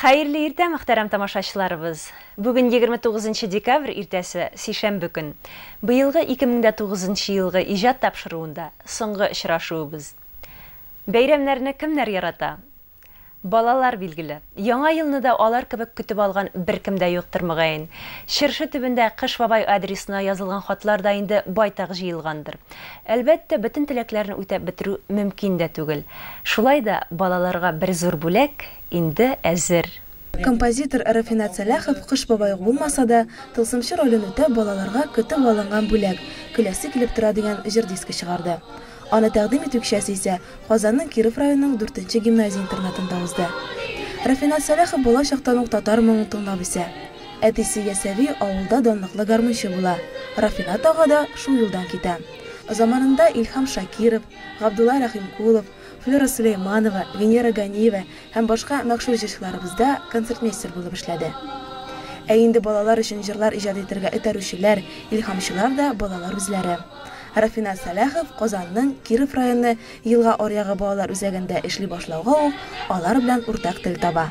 Хәерле иртә, мөхтәрәм тамашачыларыбыз! Бүген 29 декабрь иртәсе, сишәмбе көн. Быелгы 2009 елгы иҗат тапшыруында соңгы очрашуыбыз. Бәйрәмнәрне кемнәр ярата? Балалар, билгеле, Яңа елны да алар кебек көтеп алган беркем дә юктыр, мөгаен. Чыршы төбендә Кыш бабай адресына язылган хатлар да инде байтак җыелгандыр. Әлбәттә, бөтен теләкләрне үтәп бетерү мөмкин дә түгел. Шулай да балаларга бер зур бүләк инде әзер. Композитор Рафинат Сәлахов Кыш бабай ук булмаса да, тылсымчы ролен үтәп, балаларга көтеп алынган бүләк, Көләсе килеп тора дигән җыр дискы чыгарды. Аны тәкъдим итү кичәсе исә Казанның Киров районының дүртенче гимназия-интернатында узды. Рафинат Сәлахов бала чактан ук татар моңын тыңлап үсә. Әтисе Ясәви авылда данлыклы гармунчы була, Рафинат ага да шул юлдан китә. Заманында Илһам Шакиров, Габдулла Рәхимкулов, Флера Сөләйманова, Венера Ганиева һәм башка мәгъшур җырчыларыбызда концертмейстер булып эшләде. Ә инде балалар өчен җырлар иҗат итәргә этәрүчеләр, илһамчылар да балалар үзләре. Рафиназ Сәлахов Казанның Киров районы Елга аръягы балалар үзәгендә эшли башлауга ук алар белән уртак тел таба.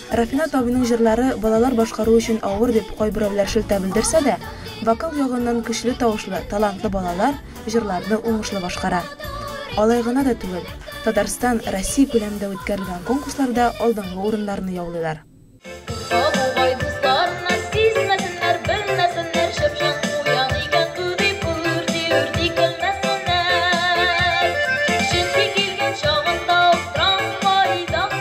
Рафинат абыйның җырлары балалар башкару өчен авыр дип кайберәүләр шелтә белдерсә дә, вокал ягыннан көчле тавышлы, талантлы балалар җырларны уңышлы башкара. Алай гына да түгел, Татарстан, Россия күләмендә үткәрелгән конкурсларда алдынгы урыннарны яулыйлар. Сабугай дусларына сизмәсеннәр, белмәсеннәр, чыпчык куян икән бу дип үрти-үрти көлмәсеннәр. Чөнки килгән чагында ук трамвайда.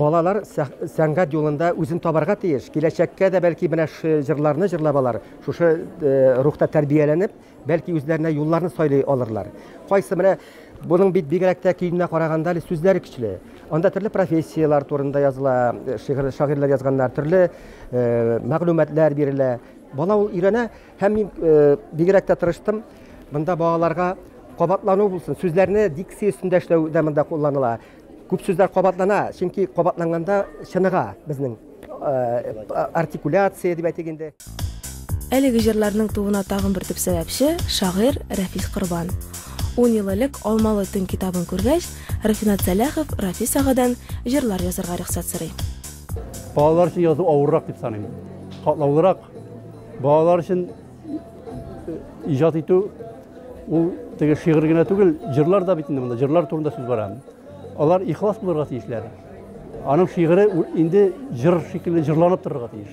Балалар сәнгать юлында үзен табарга тиеш. Киләчәккә дә бәлки менә шушы җырларны җырлап алар, шушы рухта тәрбияләнеп, бәлки үзләренә юлларны сайлый алырлар. Кайсы менә Буның бит бигрәк тә көенә караганда әле сүзләре көчле. Анда төрле профессияләр турында языла, э, шигырь шагыйрьләр язганнар, төрле э, мәгълүматлар бирелә. Бала ул өйрәнә һәм мин э, бигрәк тә тырыштым. Монда балаларга кабатлану булсын. Сүзләрне дикция өстендә эшләү дә монда кулланыла. Күп сүзләр кабатлана, чөнки кабатланганда чыныга безнең артикуляция дип әйтик инде. Әлеге җырларның тууына тагын бер төп сәбәпче, шагыйрь Рәфис Корбан. Ун ел элек Алмалы төн китабын күргәч, Рафинат Сәләхов Рафис агадан җырлар язарга рөхсәт сорый. Балалар өчен язу авыррак дип саныйм. Катлаулырак. Балалар өчен Иҗат итү ул теге шигырь генә түгел, җырлар да бит инде монда, җырлар турында сүз бара. Алар ихлас булырга тиешләр. Аның шигыре инде җыр шикелле җырланып торырга тиеш.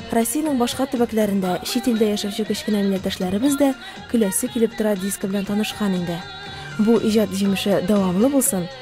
Россиянең башка төбәкләрендә, чит илдә яшәүче кечкенә милләттәшләребез дә көләсе килеп тора диск белән танышкан инде. Бу иҗат җимеше дәвамлы булсын!